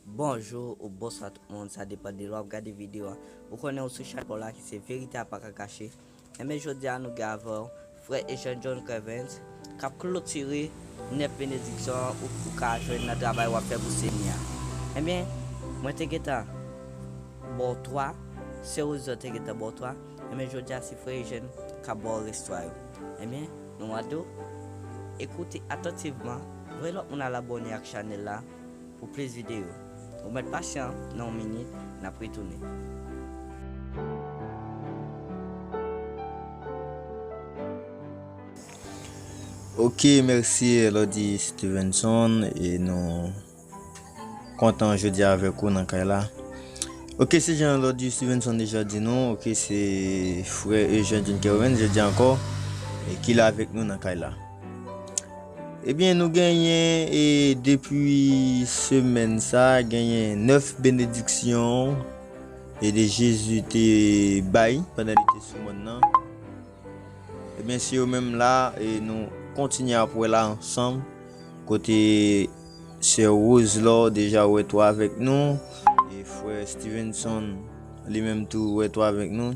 Bonjou ou bonswa tout moun sa depan de lè wap gade video a ou konnen ou sou chanèl la ki se verite a paka kache enben jodia nou gen avèw frè Eugène John Crevens kap klotire 9 benediksyon ou ka jwenn nan travay wap fè pou senyè a enben mwen te gentan baw 3 sè Rosie te gentan baw 3 enben jodia se frè Eugène kap baw rès 3 yo enben. Nou a tou? E koute atantivman, voye lòt moun al abòne ak chanèl la pou plis videyo. Ou mèt pasyan, nan yon minit, n ap retounen. Ok merci Elody Stevenson e nou kontan jodi avèk ou nan kay la. Ok, se jan lòd yo Stevenson deja di nou, ok, se frè Eugène John Kerwin, je di ankò, e ki la avèk nou nan kay la. Ebyen, nou genyen, e depi semèn sa, genyen 9 benediksyon, e de Jezu te bay, pandan li te sou moun nan. Ebyen, se yo menm la, e nou kontinye apwe la ansanm, kote... Sè Rose Laure deja wè 3 avèk nou, e frè Stevenson li menm tou wè 3 avèk nou.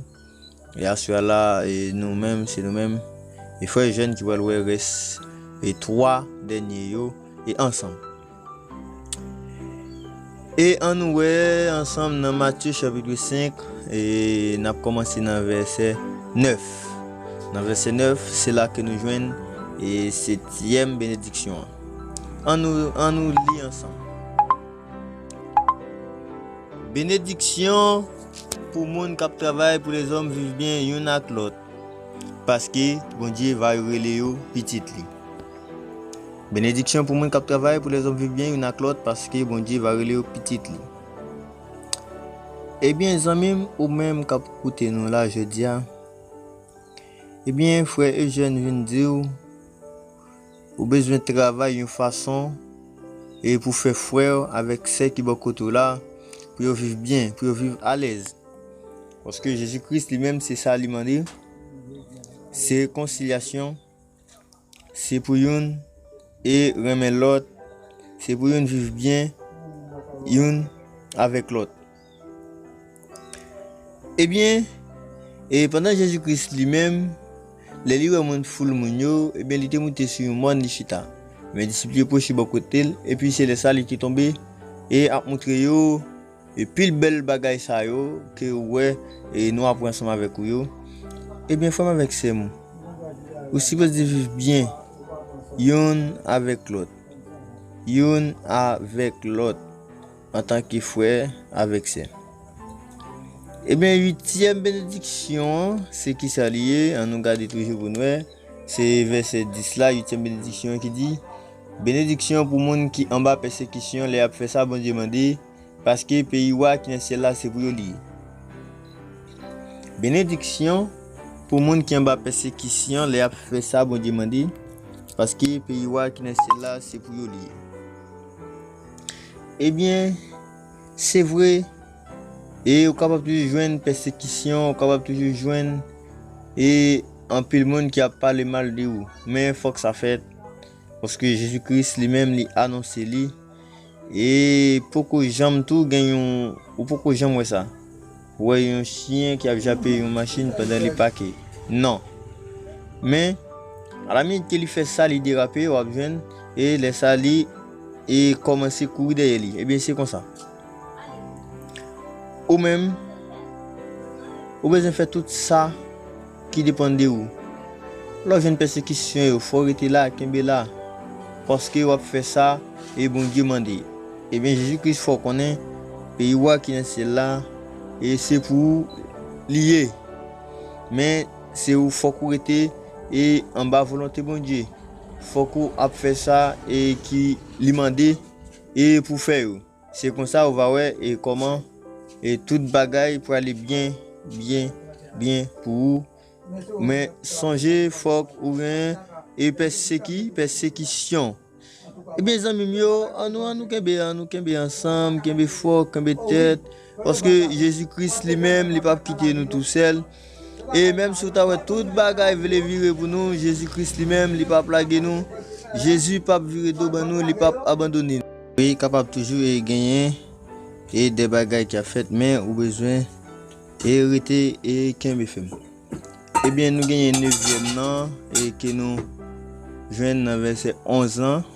E aswè a la, e nou menm, se nou menm, e frè Eugène ki pral wè rès e 3 dènye yo, e ansanm. E ann wè ansanm nan Matye chapitre 5, e n ap kòmanse nan vèsè 9. Nan vèsè 9, se la ke nou jwenn e setyèm benediksyon an. An nou, an nou li ansanm. Benediksyon pou moun kap travay pou lezòm viv byen youn ak lòt, paske Bondye va yo rele yo pitit li. Benediksyon pou moun kap travay pou lezòm viv byen youn ak lòt, paske Bondye va rele yo pitit li. Ebyen zanmim ou menm kap koute nou la jodi a, ebyen frè Eugène vin diw, Ou bezwen travay yon fason pou fè frè avèk sè ki bò kote w la pou yo viv byen, pou yo viv alèz. Paske Jezi Kris li menm se sa li mande, se rekonsilyasyon, se pou youn e renmen lòt, se pou youn viv byen youn avèk lòt. Ebyen, e pandan Jezi Kris li menm, lè li wè moun foul moun yo, ebyen li te moute sou yon mòn li chita. Men disip li yo pwoche bò kote l, epi se lè sa li te tonbe e ap moutre yo pil bèl bagay sa yo ke ou wè e nou apre ansanm avèk ou yo. Ebyen frè m avèk sè m, ou sipoze viv byen youn avèk lòt, youn avèk lòt. Antanke frè avèk sè. Ebyen uityèm benediksyon an se kisa li ye? An nou gade toujou pou n wè, se vèsè 10 la, uityèm benediksyon an ki di, Benediksyon pou moun ki anba pèsekisyon lè y ap fè sa Bondye mande, paske peyi Wa ki nan syèl la se pou yo li ye. Benediksyon pou moun ki anba pèsekisyon lè y ap fè sa Bondye mande, paske peyi Wa ki nan syèl la se pou yo li ye. Ebyen, se vre, e ou kapab toujou jwenn pèsekisyon, ou kapab toujou jwenn e anpil moun ki ap pale mal de ou. Men fòk sa fèt, paske Jezi Kris li menm li anonse li, e poko janm tou gen yon, ou poko janm wè sa. Ou wè yon chyen ki ap jape yon machin pandan li pake? Non. Men, alaminit ke li fè sa, li derape, w ap jwenn, e lè sa li e kòmanse kouri dèyè li. Ebyen, se konsa. Ou menm, ou bezwen fè tout sa. Ki depann de ou. Lè w jwenn pèsekisyon yo fò w rete la, kenbe la. Paske wap fè sa e Bondye mande. Ebyen Jezi Kris fè w konnen peyi wa ki nan syèl la e se pou ou li ye. Men se ou fòk ou rete e anba volonte Bondye. Fòk ou ap fè sa e ki li mande e pou fè yo. Se konsa ou va wè e kòman e tout bagay prale byen byen byen pou ou men sonje fòk ou gen e pèseki pèsekisyon ebyen zanmim yo an nou an nou kenbe an nou kenbe ansanm kenbe fò kenbe tèt paske jezi kris li menm li pap kite nou tou sèl. E menm si w ta wè tout bagay vle vire pou nou, Jezi Kris li menm, li pap lage nou. Jezi pap vire do ban nou, li pap abandone nou. Wi, kapab toujou e genyen e de bagay ki ap fèt, men ou bezwen e rete e kenbe fèm. Ebyen nou genyen nevyèm nan e ke nou jwenn nan vèsè 11 lan.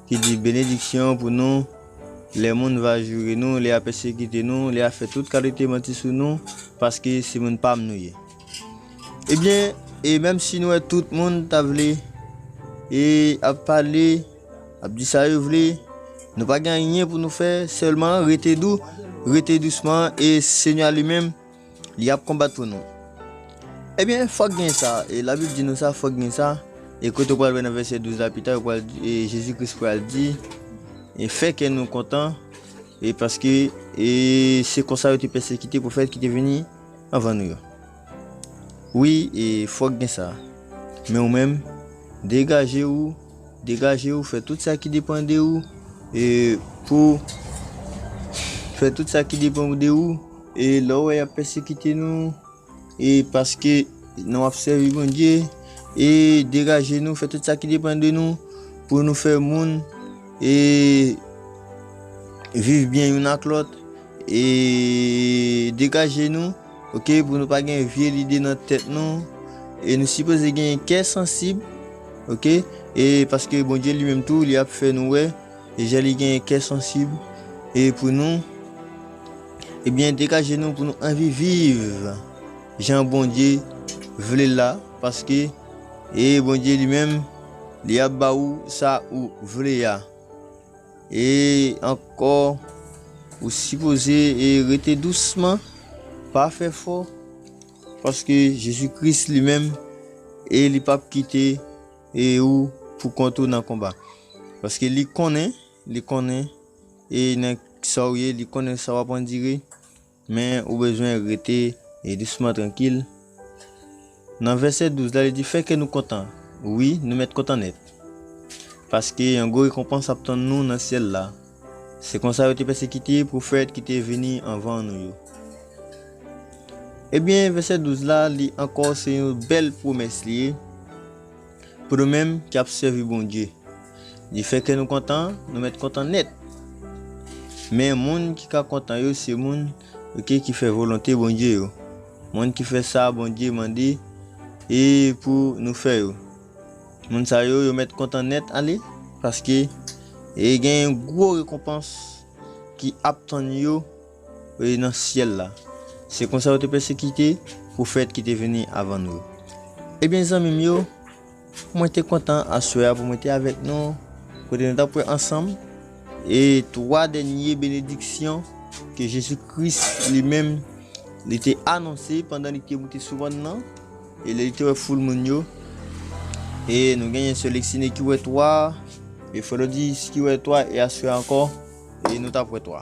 ki di, Benediksyon pou nou, lè moun va joure nou, lè y a pèsekite nou, lè y a fè tout kalite manti sou nou, paske se moun pa m nou ye. Ebyen, e menm si nou wè tout moun ta vle, e ap pale, ap di sa yo vle, nou pa gen anyen pou nou fè, sèlman rete dou, rete dousman, e Senyè a li menm, Li ap konbat pou nou. Ebyen fòk gen sa, e labib di nou sa fòk gen sa, e kote ou pral wè nan vèsè 12 la pita yo pral e Jezi Kris pral di e fè kè nou kontan e paske e se konsa yo te pèsekite pwofèt ki te vini anvan nou yo. Wi e fòk gen sa. Men ou menm degaje ou, degaje ou fè tout sa ki depan de ou e pou fè tout sa ki depan de ou E lè w wè y ap pèsekite nou, e paske nou ap sèvi Bondye, e degaje nou, fè tout sa ki depann de nou, pou nou fè moun, e viv byen youn ak lòt, e degaje nou, ok, pou nou pa gen vye lide nan tèt nou, e nou sipoze gen kè sansib, ok, e paske Bondye li menm tou, li ap fè nou wè, e jan li gen kè sansib, e pou nou, Ebyen degaje nou pou nou anvi viv jan Bondye vle la paske e Bondye li menm li ap ba ou sa ou vle a e ankò ou sipoze e rete dousman pa fè fò paske Jezi Kris li menm e li pap kite e ou pou kont ou nan konba paske li konnen li konnen E nèg Saw ye li konnen sa wap andire men ou bezwen rete dousman trankil Nan vèsè 12 la li di fè kè nou kontan wi nou mèt kontan nèt paske yon gwo rekonpans ap tann nou nan syèl la se konsa yo te pèsekite pwofèt ki te vini anvan nou yo ebyen vèsè 12 la li ankò se yon bèl pwomès li ye. Pou nou menm ki ap sèvi Bondye, li fè kè nou kontan, nou mèt kontan nèt. Men, moun ki ka kontan yo se moun oke ki fè volonte Bondye yo, moun ki fè sa Bondye mande e pou nou fè yo. Moun sa yo, yo mèt kontan nèt ale, paske e gen yon gwo rekonpans ki ap tann yo. E nan syèl la. Se konsa yo te pèsekite pwofèt ki te vini avan nou yo. Ebyen, zanmi m yo, mwen te kontan aswè a pou mwen te avèk nou, kote nou t ap pran ansanm e twa dènye benediksyon ke Jezi Kris li menm li te anonse pandan li te moute sou mòn nan e lè li te wè foul moun yo. E nou genyen sè Lexine ki wè twa, e Frè Lodis ki wè twa, e aswè a ankò nou t ap wè twa.